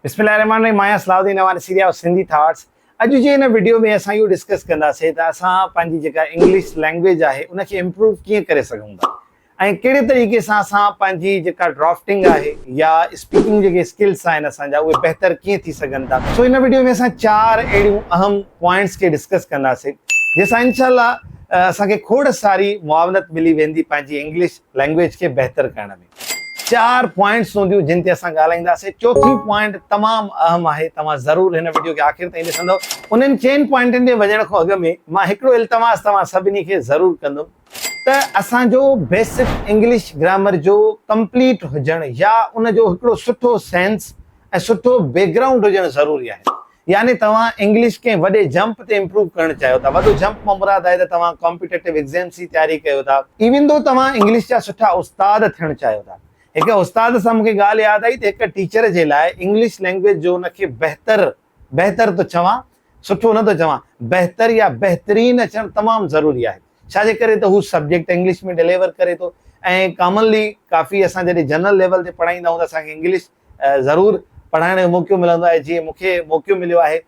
بسم الله الرحمن الرحيم مان آهيان Salah Uddin Awan series of Sindhi thoughts اڄ جي هن وڊيو ۾ اسان اهو ڊسڪس ڪنداسين ته اسان پنهنجي جيڪا انگلش لينگويج آهي ان کي امپروو ڪيئن ڪري سگهون ٿا ۽ ڪهڙي طريقي سان اسان پنهنجي جيڪا ڊرافٽنگ آهي يا اسپيڪنگ جيڪي اسڪلس آهن اسان جا اهي بهتر ڪيئن ٿي سگهن ٿا سو هن وڊيو ۾ اسان چار اهڙيون اهم پوائنٽس کي ڊسڪس ڪنداسين جنهن سان انشاء الله اسان کي کوڙ ساري معاونت ملي ويندي پنهنجي انگلش لينگويج کي بهتر ڪرڻ ۾ چار پوائنٽس هونديون جن تي اسان ڳالهائينداسين چوٿين پوائنٽ تمام اهم آهي توهان ضرور هن وڊيو کي آخر تائين ڏسندو انهن چئن پوائنٽن تي وڃڻ کان اڳ ۾ مان هڪڙو التماس توهان سڀني کي ضرور ڪندم ته اسان جو بيسڪ انگلش گرامر جو ڪمپليٽ هجڻ يا ان جو هڪڙو سٺو سينس ۽ سٺو بيڪ گرائونڊ هجڻ ضروري آهي يعني توهان انگلش ڪنهن وڏي جمپ تي امپروو ڪرڻ چاهيو ٿا. وڏو جمپ مان مراد آهي ته توهان ڪامپيٽيٽو ايگزيمز جي تياري ڪيو ٿا. ايون ڌو توهان انگلش جا سٺا استاد ٿيڻ چاهيو ٿا. هڪ استاد سان مون کي ڳالهه ياد آئي ته هڪ ٽيچر جي لاء انگلش لينگويج جو ان کي بهتر، بهتر ٿو چوان، سٺو نه ٿو چوان، بهتر يا بهترين اچڻ تمام ضروري آهي. ڇا جي ڪري ته هو سبجيڪٽ انگلش ۾ ڊليور ڪري ٿو ۽ ڪامنلي ڪافي اسان جڏهن جنرل ليول تي پڙهائيندا آهيون ته اسان کي انگلش ضرور پڙهائڻ جو موقعو ملندو آهي جيئن مون کي موقعو مليو آهي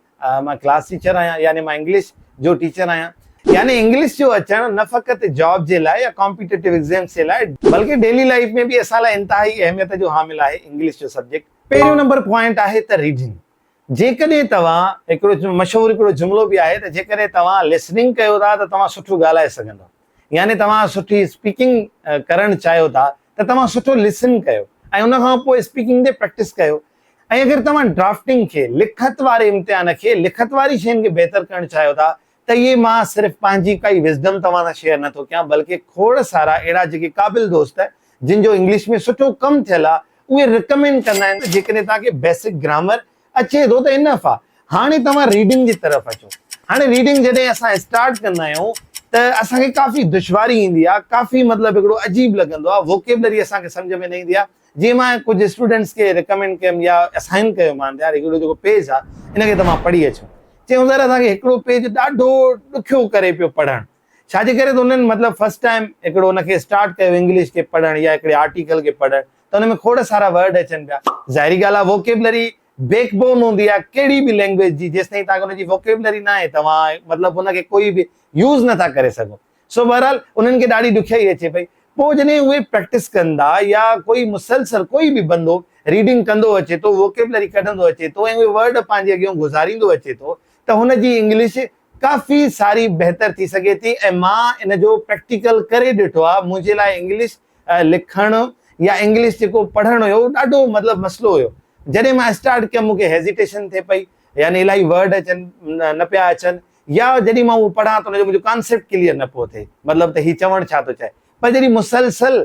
مان ڪلاس ٽيچر آهيان يعني مان انگلش جو ٽيچر آهيان. يعني انگلش جو اچڻ نه فقط جاب جي لاء يا ڪامپيٽيٽو ايگزيمز جي لاء بلڪه ڊيلي لائيف ۾ به اسان لاء انتهائي اهميت جو حامل آهي انگلش جو سبجيڪٽ پهريون نمبر پوائنٽ آهي ته ريڊنگ جيڪڏهن توهان هڪڙو مشهور هڪڙو جملو به آهي ته جيڪڏهن توهان لسننگ ڪيو ٿا ته توهان سٺو ڳالهائي سگهندو يعني توهان سٺي اسپيڪنگ ڪرڻ چاهيو ٿا ته توهان سٺو لسن ڪيو ۽ ان کان پوء اسپيڪنگ تي پريڪٽس ڪيو ۽ اگر توهان ڊرافٽنگ کي لکت واري امتحان کي لکت واري شين کي بهتر ڪرڻ چاهيو ٿا ته اهي مان صرف پنهنجي ڪائي وزڊم توهان سان شيئر نه ٿو ڪيان بلڪه کوڙ سارا اهڙا جيڪي قابل دوست جن جو انگلش ۾ سٺو ڪم ٿيل آ اهي رڪمينڊ ڪندا آهن ته جيڪڏهن توهان کي بيسڪ گرامر اچي ٿو ته انف آ هاڻي توهان ريڊنگ جي طرف اچو هاڻي ريڊنگ جڏهن اسان اسٽارٽ ڪندا آهيون ته اسان کي ڪافي دشواري ايندي آ ڪافي مطلب هڪڙو عجيب لڳندو آ ووڪيبلري اسان کي سمجهه ۾ نه ايندي آ جي مان ڪجهه اسٽوڊنٽس کي ريڪمينڊ ڪيم يا اسائن ڪيو مان ته يار هڪڙو جيڪو پيج آ ان کي توهان پڙهي اچو چيو سر اسان کي هڪڙو پيج ڏاڍو ڏکيو ڪري پيو پڙهڻ ڇا جي ڪري ته انهن مطلب فرسٽ ٽائيم هڪڙو ان کي اسٽارٽ ڪيو انگلش کي پڙهڻ يا هڪڙي آرٽيڪل کي پڙهڻ ته ان ۾ کوڙ سارا ورڊ اچن پيا ظاهري ڳالهه آ ووڪيبلري بيڪ بون هوندي آ ڪهڙي به لينگويج جي جيستائين توهان کي ان جي ووڪيبلري ناهي توهان مطلب ان کي ڪوئي به يوز نٿا ڪري سگهو سو بهرحال انهن کي ڏاڍي ڏکيائي اچي پئي. پوء جڏهن اهي پريڪٽس ڪن ٿا يا ڪوئي مسلسل ڪوئي به بندو ريڊنگ ڪندو اچي ٿو، ووڪيبلري ڪڍندو اچي ٿو ۽ اهي ورڊ پنهنجي اڳيون گذاريندو اچي ٿو ته هن جي انگلش ڪافي ساري بهتر ٿي سگهي ٿي ۽ مان ان جو پريڪٽيڪل ڪري ڏٺو آهي. منهنجي لاء انگلش لکڻ يا انگلش جيڪو پڙهڻ هيو اهو ڏاڍو مطلب مسئلو هيو. جڏهن مان اسٽارٽ ڪيم مون کي هيزيٽيشن ٿئي پئي يعني الاهي ورڊ اچن نه پيا اچن يا جڏهن مان اهو پڙهان ته ان جو منهنجو ڪانسيپٽ ڪليئر نه پيو ٿئي مطلب ته هي چوڻ ڇا ٿو چاهي پر جڏهن مسلسل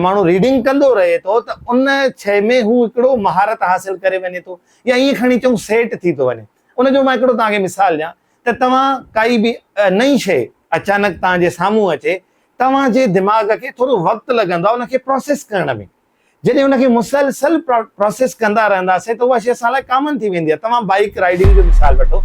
ماڻهو ريڊنگ ڪندو رهي ٿو ته ان شيء ۾ هو هڪڙو مهارت حاصل ڪري وڃي ٿو يا ائين کڻي چئون سيٽ ٿي ٿو وڃي ان جو مان هڪڙو توهان کي مثال ڏيان ته توهان ڪائي به نئين شيء اچانڪ توهان جي سامهون اچي توهان جي دماغ کي ٿورو وقت لڳندو آهي ان کي پروسيس ڪرڻ ۾. جڏهن ان کي مسلسل پراسيس ڪندا رهنداسين ته اها شيء اسان لاء ڪامن ٿي ويندي آهي توهان بائيڪ رائيڊنگ جو مثال وٺو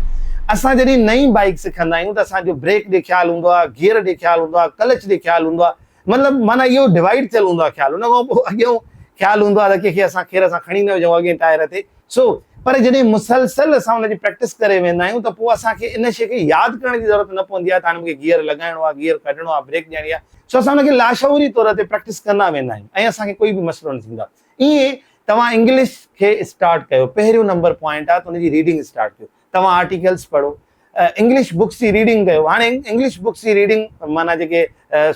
اسان جڏهن نئين بائيڪ سکندا آهيون ته اسان جو بريڪ ڏي خيال هوندو آهي گيئر ڏي خيال هوندو آهي ڪلچ ڏي خيال هوندو آهي مطلب معنيٰ اهو ڊوائيڊ ٿيل هوندو آهي خيال ان کان پوء اڳيون خيال هوندو آهي ته ڪنهن کي اسان کير سان کڻي نه وجهون اڳئين ٽائر تي سو پر جڏهن مسلسل اسان ان جي پريڪٽس ڪري ويندا آهيون ته پوء اسان کي ان شيء کي ياد ڪرڻ جي ضرورت نه پوندي آهي ته هاڻي مون کي گيئر لڳائڻو آهي، گيئر ڪڍڻو آهي، بريڪ ڏيڻي آهي. سو اسان ان کي لاشعوري طور تي پريڪٽس ڪندا ويندا آهيون ۽ اسان کي ڪوئي به مسئلو نه ٿيندو آهي. ايئن ئي توهان انگلش کي اسٽارٽ ڪيو، پهريون نمبر پوائنٽ آهي ته ان جي ريڊنگ اسٽارٽ ڪيو. توهان آرٽيڪلس پڙهو، انگلش بڪس جي ريڊنگ ڪيو. هاڻي انگلش بڪس جي ريڊنگ معنيٰ جيڪي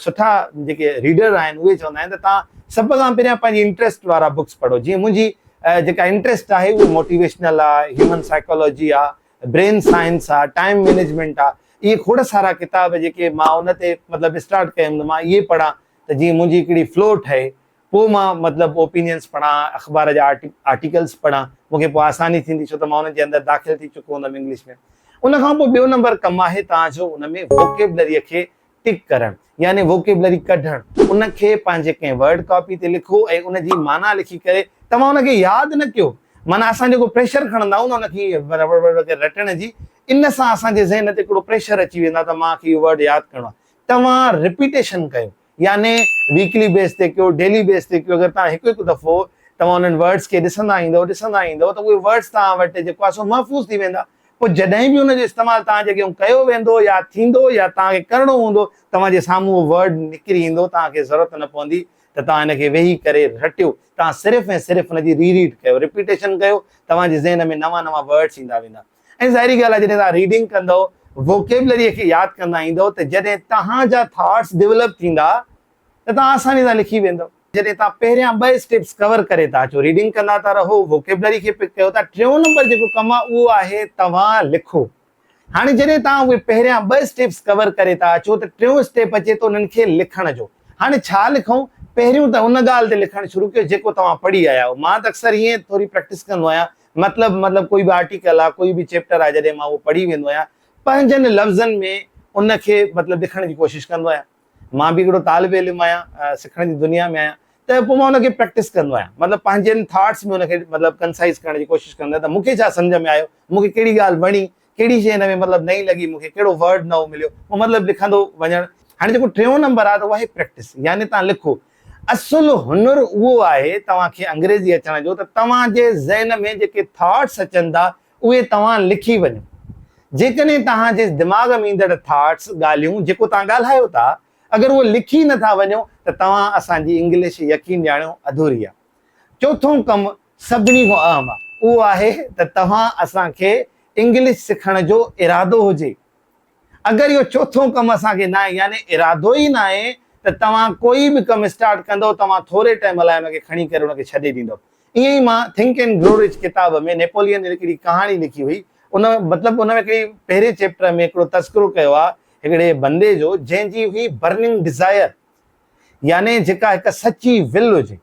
سٺا جيڪي ريڊر آهن اهي چوندا آهن ته توهان سڀ کان پهريان پنهنجي انٽريسٽ وارا بڪس پڙهو جيئن منهنجي جيڪا انٽريسٽ آهي اهي موٽيويشنل آ، هيومن سائيڪالاجي آ، برين سائنس آ، ٽائيم مينيجمينٽ آ، اهي کوڙ سارا ڪتاب جيڪي مان ان تي مطلب اسٽارٽ ڪيم ته مان اهي پڙهان ته جيئن منهنجي هڪڙي فلو ٺهي پوء مان مطلب اوپينينس پڙهان، اخبار جا آرٽيڪلز پڙهان، مون کي پوء آساني ٿيندي ڇو ته مان انهن جي اندر داخل ٿي چڪو هوندم انگلش ۾. ان کان پوء ٻيو نمبر ڪم آهي توهان جو ان ۾ ووڪيبلريء کي ٽڪ ڪرڻ يعني ووڪيبلري ڪڍڻ، ان کي پنهنجي ڪنهن ورڊ ڪاپي تي لکو ۽ ان جي معنيٰ لکي ڪري توهان ان کي ياد نه ڪيو معنيٰ اسان جيڪو پريشر کڻندا آهيون نه ان کي ورڙ ورڙ ڪري رٽڻ جي ان سان اسان جي ذهن تي هڪڙو پريشر اچي ويندو آهي ته مان کي اهو ورڊ ياد ڪرڻو آهي توهان رپيٽيشن ڪيو. يعني ويڪلي بيس تي ڪيو ڊيلي بيس تي ڪيو اگر توهان هڪ هڪ دفعو توهان انهن ورڊز کي ڏسندا ايندؤ ڏسندا ايندؤ ته اهي ورڊز توهان وٽ جيڪو آهي سو محفوظ ٿي ويندا پوء جڏهن به ان جو استعمال توهان جي اڳيون ڪيو ويندو يا ٿيندو يا توهان کي ڪرڻو هوندو توهان جي سامهون اهو ورڊ نڪري ايندو توهان کي ضرورت نه پوندي ته توهان ان کي ويهي ڪري رٽيو توهان صرف ۽ صرف ان جي ري ريڊ ڪيو رپيٽيشن ڪيو توهان جي ذهن ۾ نوان نوان ورڊز ايندا ويندا. ۽ ظاهري ڳالهه آهي جڏهن توهان ريڊنگ ڪندئو، ووڪيبلريء کي ياد ڪندا ايندئو ته جڏهن توهان جا ٿاٽس ڊولپ ٿيندا ته توهان آساني سان لکي ويندئو. جڏهن توهان پهريان ٻه اسٽيپس ڪور ڪري ٿا اچو، ريڊنگ ڪندا ٿا رهو، ووڪيبلري کي پڪ ڪيو ٿا، ٽيون نمبر جيڪو ڪم آهي اهو آهي توهان لکو. هاڻي جڏهن توهان اهي پهريان ٻه اسٽيپس ڪور ڪري ٿا اچو ته ٽيون اسٽيپ اچي ٿو انهن کي لکڻ جو. هاڻي ڇا لکون؟ پهريون ته ان ڳالهه تي لکڻ شروع ڪيو جيڪو توهان پڙهي آيا آهيو. مان ته اڪثر ائين ٿوري پريڪٽس ڪندو آهيان مطلب مطلب ڪوئي به آرٽيڪل آ ڪوئي به چيپٽر آ جڏهن مان اهو پڙهي ويندو آهيان پنهنجن لفظن ۾ ان کي مطلب لکڻ جي ڪوشش ڪندو آهيان مان به هڪڙو طالب علم آهيان سکڻ جي دنيا ۾ آهيان ته پوء مان ان کي پريڪٽس ڪندو آهيان مطلب پنهنجن ٿاٽس ۾ ان کي مطلب ڪنسائز ڪرڻ جي ڪوشش ڪندو آهيان ته مون کي ڇا سمجهه ۾ آيو مون کي ڪهڙي ڳالهه وڻي ڪهڙي شيء هن ۾ مطلب نئين لڳي مون کي، ڪهڙو ورڊ نئون مليو، اهو مطلب لکندو وڃڻ. هاڻي جيڪو ٽيون نمبر آهي ته اهو آهي پريڪٽس يعني توهان لکو. اصل هنر اهو آهي توهان کي انگريزي اچڻ جو ته توهان جي ذهن ۾ جيڪي ٿاٽس اچن ٿا اهي توهان لکي وڃو. جيڪڏهن توهان جي دماغ ۾ ايندڙ ٿاٽس، ڳالهيون، جيڪو توهان ڳالهايو ٿا اگر اهو لکي نه ٿا وڃو ته توهان اسان جي انگلش يقين ڄاڻيو اڌوري آهي. چوٿون ڪم سڀني کان اهم اهو آهي ته توهان اسان کي انگلش سکڻ جو ارادو هجي. اگر اهو چوٿون ڪم اسان کي ناهي يعني ارادو ئي ناهي ته توهان ڪوئي به ڪم اسٽارٽ ڪندئو توهان ٿوري ٽئم لاء ان کي کڻي ڪري ان کي ڇڏي ڏيندئو. ائين ئي مان ٿنڪ اينڊ گرو رچ ڪتاب ۾ نيپولين جي هڪڙي ڪهاڻي لکي هئي ان مطلب ان ۾ هڪڙي پهرين چيپٽر ۾ هڪڙو تذڪرو ڪيو آهي هڪڙي بندي جو جنهن جي هئي برننگ ڊزائر يعني جيڪا هڪ سچي ول هجي.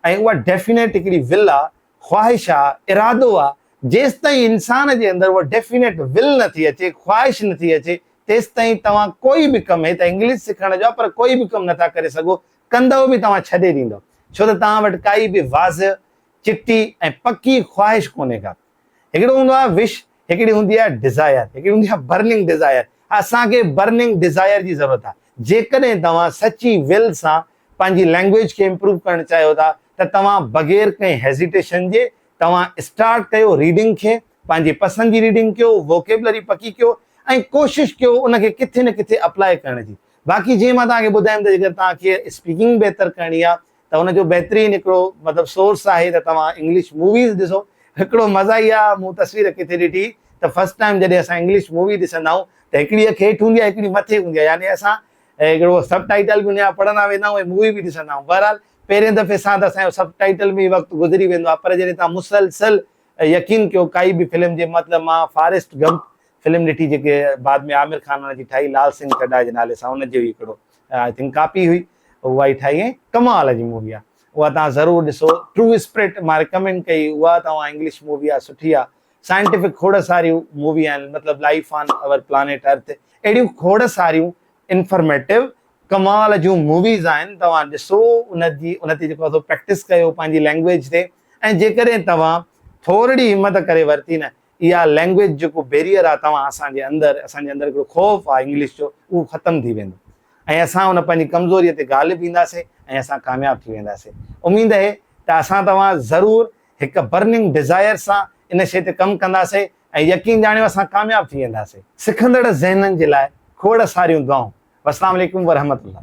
۽ اها ڊيفينيٽ هڪڙي ول آ، خواهش آ، ارادو آ، جيستائين انسان جي اندر اها ڊيفينيٽ ول نه ٿي اچي، خواهش نه ٿي اچي، تيستائين توهان ڪوئي به ڪم، هي ته انگلش سکڻ جو آ پر ڪوئي به ڪم نٿا ڪري سگهو، ڪندؤ به توهان ڇڏي ڏيندؤ، ڇو ته توهان وٽ ڪائي به واضح، چٽي ۽ پڪي خواهش ڪونهي ڪا. هڪڙو هوندو آهي وش، هڪڙي هوندي آهي ڊزائر، هڪڙي هوندي آهي برننگ ڊزائر. اسان کي برننگ ڊزائر جي ضرورت آهي. جيڪڏهن توهان سچي ول سان پنهنجي لينگويج کي امپروو ڪرڻ چاهيو ٿا ته توهان بغير ڪنهن هيزيٽيشن جي توهان اسٽارٽ ڪيو ريڊنگ کي، پنهنجي پسند جي ريڊنگ ڪيو، ووڪيبلري پڪي ڪيو ۽ ڪوشش ڪيو ان کي ڪٿي نه ڪٿي اپلائي ڪرڻ جي. باقي جيئن مان توهان کي ٻڌايم ته جيڪڏهن توهان کي اسپيڪنگ بهتر ڪرڻي آهي ته ان جو بهترين هڪڙو مطلب سورس آهي ته توهان انگلش موويز ڏسو. هڪڙو مزا ئي آ مون تصوير ڪٿي ڏٺي ته فرسٽ ٽائيم جڏهن اسان انگلش مووي ڏسندا آهيون ته هڪڙي اک هيٺ هوندي آ هڪڙي مٿي هوندي آ يعني اسان هڪڙو سب ٽائيٽل به ان جا پڙهندا ويندا آهيون ۽ مووي به ڏسندا آهيون بهرحال پهرين دفعي سان ته اسان جو سب ٽائيٽل ۾ ئي وقت گذري ويندو آ پر جڏهن توهان مسلسل يقين ڪيو ڪائي به فلم جي مطلب مان فاريسٽ گمپ فلم ڏٺي جيڪي بعد ۾ عامر خان ان جي ٺاهي لال سنگهه چڊا جي نالي سان ان جي ئي هڪڙو آئي ٿنڪ ڪاپي هئي اها ئي ٺاهي ۽ ڪمال جي مووي آ اها توهان ضرور ڏسو ٽرو اسپرٽ مان رڪمينڊ ڪئي اها توهان انگلش مووي آ سٺي آ سائنٽيفڪ کوڙ ساريون مووي آهن مطلب life on our planet earth اهڙيون کوڙ ساريون انفرميٽو ڪمال جون موويز آهن توهان ڏسو ان جي ان تي جيڪو اٿو پريڪٽس ڪيو پنهنجي لينگويج تي ۽ جيڪڏهن توهان ٿورڙي همت ڪري ورتي نه اها لينگويج جيڪو بيريئر آهي توهان اسان جي اندر اسان جي اندر هڪڙو خوف آهي انگلش جو اهو ختم ٿي ويندو ۽ اسان ان پنهنجي ڪمزوري تي غالب اينداسين ۽ اسان ڪامياب ٿي وينداسين اميد اهي ته اسان توهان ضرور هڪ برننگ ڊزائر سان ان شيء تي ڪم ڪنداسين ۽ يقين ڄاڻيو اسان ڪامياب ٿي وينداسين. سکندڙ ذهنن جي لاء کوڙ ساريون دعائون. والسلام عليڪم ورحمة الله.